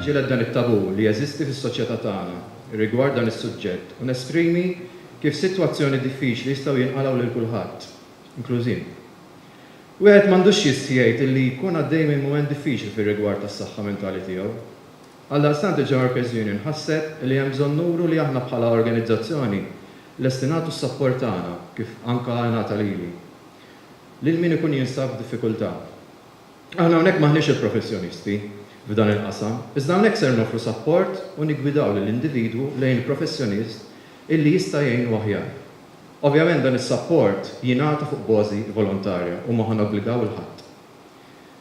Niġġieled dan it-tabù li jeżisti fis-soċjetà tagħna rigward dan is-suġġett u nesprimi kif sitwazzjoni diffiċli jistgħu jinqalgħu lil kulħadd, inkluż jien. Wieħed m'għandux jistħi jgħid illi jkun għaddej minn mument diffiċli fir-rigward tas-saħħa mentali tiegħu. Għaldaqstant il-Ġemarkers Union ħasset illi hemm bżonn nuru li aħna bħala organizzazzjoni lesti nagħtu s-sapport tagħna, kif anke ingħata lili, lil min ikun jinsab f'diffikultà. Aħna hawnhekk m'aħniex il-professjonisti f'dan il-qasam, iżda hawnhekk ser noffru sapport u niggwidaw lill-individwu lejn il-professjonist illi jista' jgħinu aħjar. Ovvjament dan is-sapport jingħata fuq bożi volontarja u ma ħa nobbligaw 'il ħadd.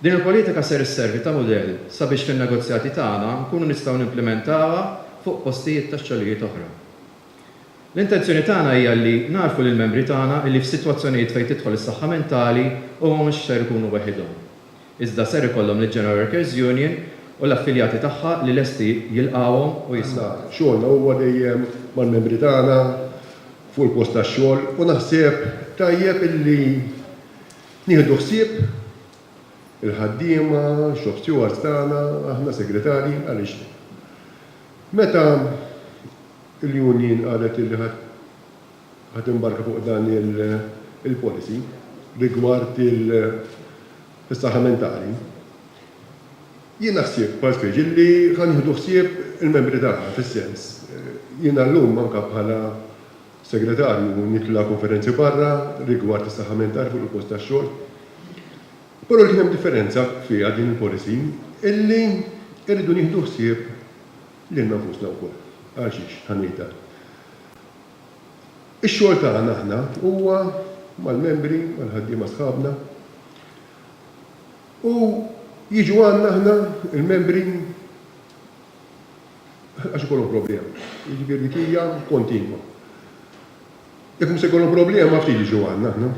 Din il-politika ser isservi ta' mudell sabiex fin-negozjati tagħna nkunu nistgħu nimplimentawha fuq postijiet tax-xogħlijiet oħra. L-intenzjoni tagħna hija li ngħarrfu lill-membri tagħna li f'sitwazzjonijiet fejn tidħol is-saħħa mentali huma mhux ser ikunu weħidhom, iżda ser ikollhom lill-General Workers Union u l-affiljati tagħha li lesti jilqgħuhom u jismgħuhom. Aħna xogħolna huwa dejjem mal-membri tagħna fuq il-post tax-xogħol u naħseb tajjeb illi nieħdu ħsieb il-ħaddiema, shop stewards tagħna, aħna segretarji għaliex meta Il-union qalet illi ħadd imbarka fuq dan il-policy rigward is-saħħa mentali. Jiena ħsieb bħal Fridge illi ħa nieħdu ħsieb il-membri tagħna fis-sens, jiena llum anke bħala segretarju nitla' konferenzi barra rigward is-saħħa mentali fuq il-post tax-xogħol. Però kien hemm differenza fiha din il-policy illi rridu nieħdu ħsieb Lilna nfusna wkoll. Għal xiex ħa ngħidha? Ix-xogħol tagħna aħna huwa mal-membri, mal-ħaddiema sħabna. U jiġu għandna aħna l-membri għax ikollhom problema. Jiġifieri dik hija kontinwa. Jekk mhux se jkollhom problema ma ftit jiġu għandna aħna.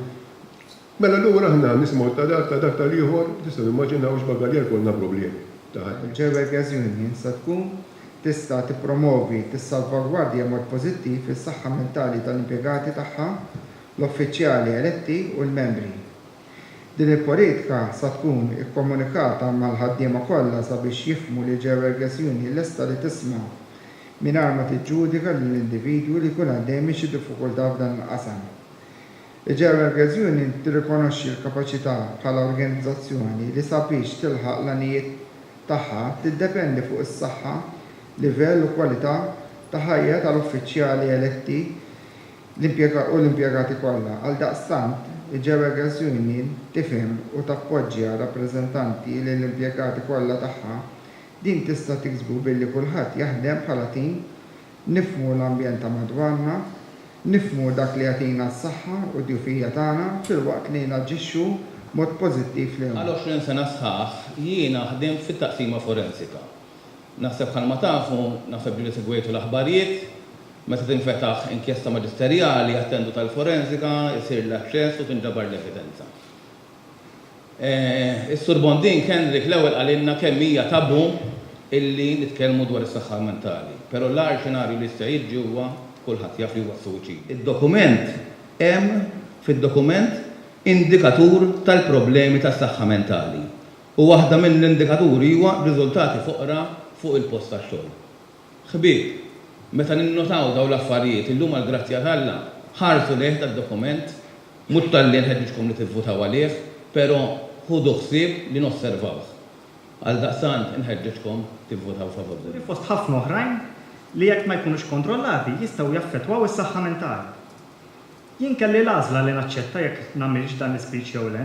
Mela allura aħna nisimgħu ta' dak, ta' dak tal-ieħor, tistgħu timmaġinaw x'bagaljar ikollna problemi ta' ħajja. Jewel Gas Union sa tkun tista' tippromovi, tissalvagwardja b'mod pożittiv is-saħħa mentali tal-impjegati tagħha, l-uffiċjali eletti u l-membri. Din il-politika sa tkun ikkomunikata mal-ħaddiema kollha sabiex jifhmu li Jewel Gas Union lesta li tisma' mingħajr ma tiġġudika lill-individwu li jkun għaddej minn xi diffikultà f'dan il-qasam. Il-German Girls Union tirrikonoxxi l-kapaċità bħala organizzazzjoni li sabiex tilħaq l-għanijiet tagħha tiddependi fuq is-saħħa, livell u kwalità ta' ħajja tal-uffiċjali eletti u l-impjegati kollha. Għaldaqstant, il-German Girls Union tifhem u tappoġġja rappreżentanti lill-impjegati kollha tagħha. Din tista' tiksbu billi kulħadd jaħdem bħala tim Nifhmu l-ambjent ta' madwarna, nifhmu dak li jagħtina s-saħħa u d-djufija tagħna filwaqt li naġixxu b'mod pożittiv lejhom. Għal 20 sena sħaħ jiena ħdimt fit-Taqsima Forensika. Naħseb bħalma tafu, naħseb diġa segwejtu l-aħbarjiet, meta tinfetaħ inkjesta maġisterjali, attendu tal-forensika, isir l-aċċess u tinġabar l-evidenza. Is-Sur Bonding Henrik l-ewwel qalilna kemm hija tabù illi nitkellmu dwar is-saħħa mentali. Però l-agħar xenarju li jista' jiġri huwa, kulħadd jaf li huwa s-suwiċidju. Id-dokument Hemm fid-dokument indikatur tal-problemi tas-saħħa mentali u waħda mill-indikaturi huwa riżultati foqra fuq il-post tax-xogħol. Ħbieb, meta ninnotaw dawn l-affarijiet, illum għall-grazzja t'Alla, ħarsu lejh dad-dokument, mhux talli nħeġġiġkom li tivvutaw għalih, però ħudu ħsieb li nosservawh. Għaldaqstant, inħeġġeġkom tivvutaw favur. fost ħafna oħrajn li jekk ma jkunux kontrollati jistgħu jaffettwaw is-saħħa mentali. Jien kelli l-għażla li naċċetta jekk nagħmilx dan l-ispeech jew le.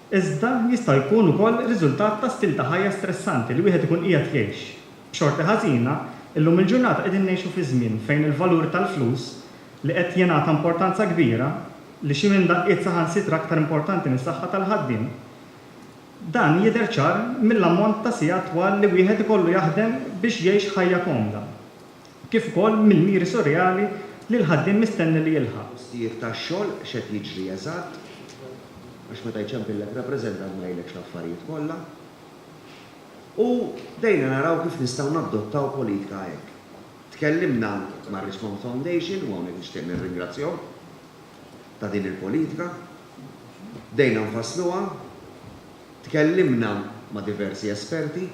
iżda jista' jkun ukoll riżultat ta' stil ta' ħajja stressanti li wieħed ikun qiegħed jgħix. B'xorti ħażina, illum il-ġurnata qegħdin ngħixu fi żmien fejn il-valur tal-flus, li qed jingħata importanza kbira, li xi minn daqqiet saħansitra aktar importanti mis-saħħa tal-ħaddiem, dan jidher ċar mill-ammont ta' sigħat twal li wieħed ikollu jaħdem biex jgħix ħajja komda. kif ukoll mill-miri surreali li l-ħaddiem mistenni li jilħaq. Postijiet tax-xogħol, x'qed jiġri eżatt, għax meta jċempillek rappreżentant ma jgħidlekx l-affarijiet kollha. U bdejna naraw kif nistgħu naddottaw politika hekk. Tkellimna mar-Richmond Foundation, u hawnhekk nixtieq nirringrazzjahom ta' din il-politika. Bdejna nfassluha. Tkellimna ma' diversi esperti.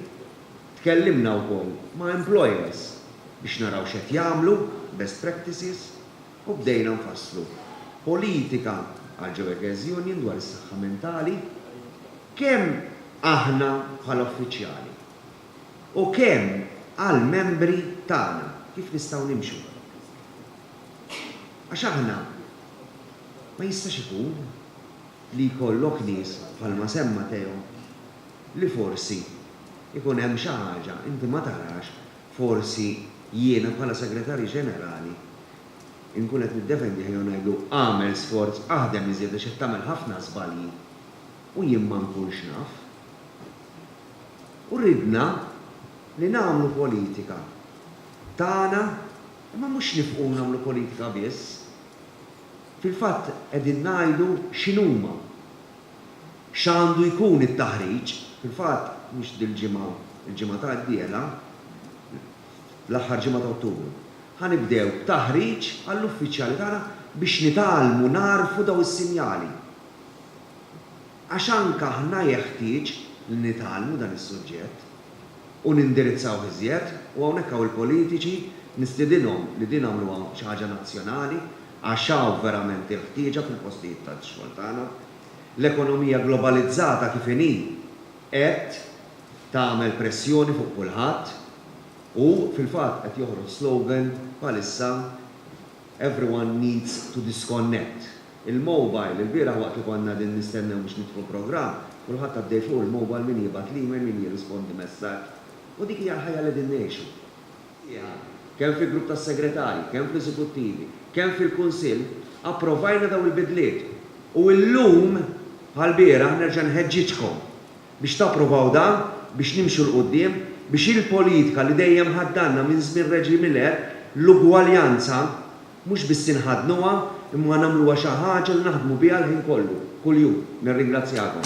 Tkellimna wkoll ma' employers biex naraw x'qed jagħmlu, best practices, u bdejna nfasslu politika għall-Ġewerkers Union dwar is-saħħa mentali, kemm aħna bħala uffiċjali u kemm għall-membri tagħna kif nistgħu nimxu. Għax aħna ma jistax ikun li jkollok nies bħalma semma Theo, li forsi jkun hemm xi ħaġa inti ma tarax, forsi jiena bħala Segretarju Ġenerali nkun qed niddefendih jew ngħidlu agħmel sforz, aħdem iżjed għax qed tagħmel ħafna żbalji u jien ma nkunx naf. U ridna li nagħmlu politika tagħna imma mhux nifqu nagħmlu politika biss. Fil-fatt qegħdin ngħidu x'inhuma x'għandu jkun it-taħriġ. Fil-fatt, mhux dil-ġimgħa, il-ġimgħa ta' d-dieħla, fl-aħħar ġimgħa ta' Ottubru, ħa nibdew b'taħriġ għall-uffiċjali tagħna biex nitgħallmu nagħrfu dawn is-sinjali. Għax anke aħna jeħtieġ li nitgħallmu dan is-suġġett. u nindirizzawh iżjed u hawnhekk hawn il-politiċi nistiedinhom li din għamluha xi ħaġa nazzjonali għax hawn verament il-ħtieġa fil-postijiet tax-xogħol tagħna. L-ekonomija globalizzata kif inhi qed tagħmel pressjoni fuq kulħadd u fil-fatt qed joħroġ slogan bħalissa, Everyone needs to disconnect. Il-mobile, ilbieraħ waqt li konna qegħdin nistennew biex niftħu l-programm, kulħadd għaddej fuq il-mobile min jibgħat l-email, min jirrispondi messaġġ. U dik hija l-ħajja li qegħdin ngħixu. Fiha, kemm fil-grupp tas-segretarji, kemm fl-eżekuttivi, kemm fil-kunsill, approvajna dawn il-bidliet. U illum, bħall-bieraħ, nerġa' nħeġġiġkom Biex tapprovaw dan, biex nimxu 'l quddiem, biex il-politika li dejjem ħaddgħanna minn żmien Reġim Miller, l-ugwaljanza, mhux biss inħaddnuha, imma nagħmluha xi ħaġa li naħdmu biha l-ħin kollu, kuljum. Nirringrazzjakom.